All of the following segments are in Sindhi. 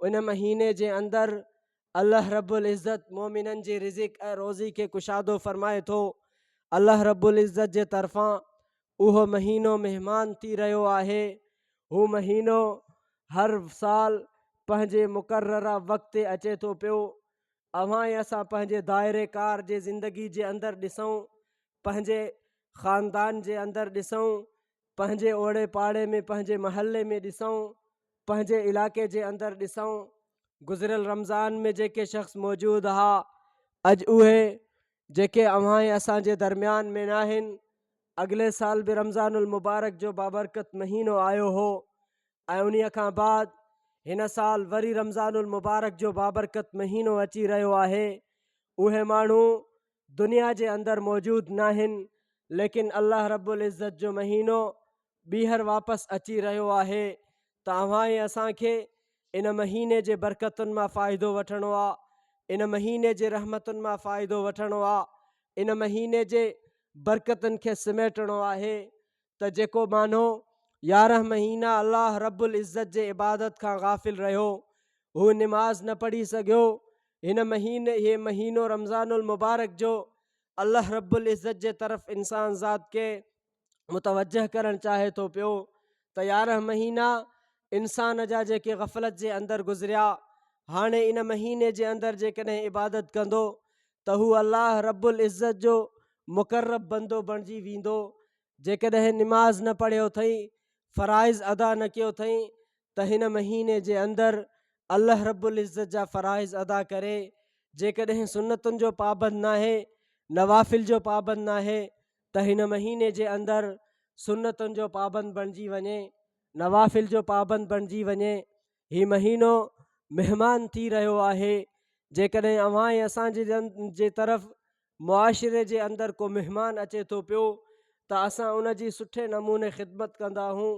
ان مهيني جي اندر الله رب العزت مؤمنن جي رزق ۽ روزي کي ڪشادو فرمائي ٿو الله رب العزت جي طرفان اهو مهينو مهمان ٿي رهيو آهي هو مهينو هر سال پنهنجي مقرره وقت تي اچي ٿو پيو اوهان ۽ اسان پنهنجي دائري ڪار جي زندگي جي اندر ڏسون پنهنجي خاندان جي اندر ڏسون پنهنجي اوڙي پاڙي ۾ پنهنجي محلي ۾ ڏسون پنهنجي علائقي جي اندر ڏسون گذريل رمضان ۾ جيڪي شخص موجود ها اڄ اهي جيڪي اوهان ۽ اسان جي درميان ۾ ناهن اڳلي سال به رمضان المبارڪ جو بابرڪت مهينو آيو هو ۽ انهي کان بعد هن سال وري رمضان المبارڪ جو بابرڪت مهينو اچي رهيو آهي اهي ماڻهو دنيا جي اندر موجود ناهن ليڪن الله رب العزت جو مهينو ٻيهر واپس اچي رهيو آهي ته اوهان ۽ اسان کي ان مهيني جي برڪتن مان فائدو وٺڻو آ ان مهيني جي رحمتن مان فائدو وٺڻو آ ان مهيني جي برڪتن کي سميٽڻو آهي ته جيڪو مانھو يارنھن مھينا الله رب العزت جي عبادت کان غافل رھيو ھو نماز نه پڙھي سگھيو ھن مھين اھي مھينو رمضان المبارڪ جو الله رب العزت جي طرف انسان ذات کي متوجه ڪرڻ چاھي ٿو پيو ته يارنھن مھينا انسان جا جيڪي غفلت جي اندر گذريا ھاڻي ان مھيني جي اندر جيڪڏھن عبادت ڪندو ته ھو الله رب العزت جو مقرب بندو بڻجي ويندو جيڪڏهن نماز نه پڙهيو اٿئي، فرائض ادا نه ڪيو اٿئي ته هن مهيني جي اندر الله رب العزت جا فرائض ادا ڪري، جيڪڏهن سنتن جو پابند ناهي، نوافل جو پابند ناهي ته هن مهيني جي اندر سنتن جو پابند بڻجي وڃي، نوافل جو پابند بڻجي وڃي، هي مهينو مهمان ٿي رهيو آهي جيڪڏهن اوهان ۽ اسان جي جي طرف معاشري جي اندر ڪو مهمان اچي ٿو پيو ته اسان ان جي سٺي نموني خدمت ڪندا آهون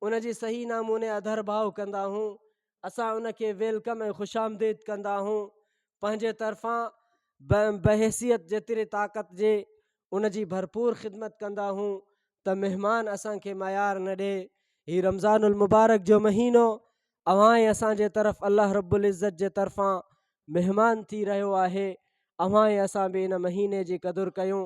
ان جي صحيح نموني اڌر ڀاء ڪندا آهون اسان ان کي ويلڪم ۽ خوش آمديد ڪندا آهون پنهنجي طرفان بحيثيت جيتري طاقت جي ان جي ڀرپور خدمت ڪندا آهون ته مهمان اسان کي ميار نه ڏي هي رمضان المبارڪ جو مهينو اوهان ئي اسان جي طرف الله رب العزت جي طرفان مهمان ٿي رهيو آهي اوهان ئي اسان به ان مهيني جي قدر ڪيون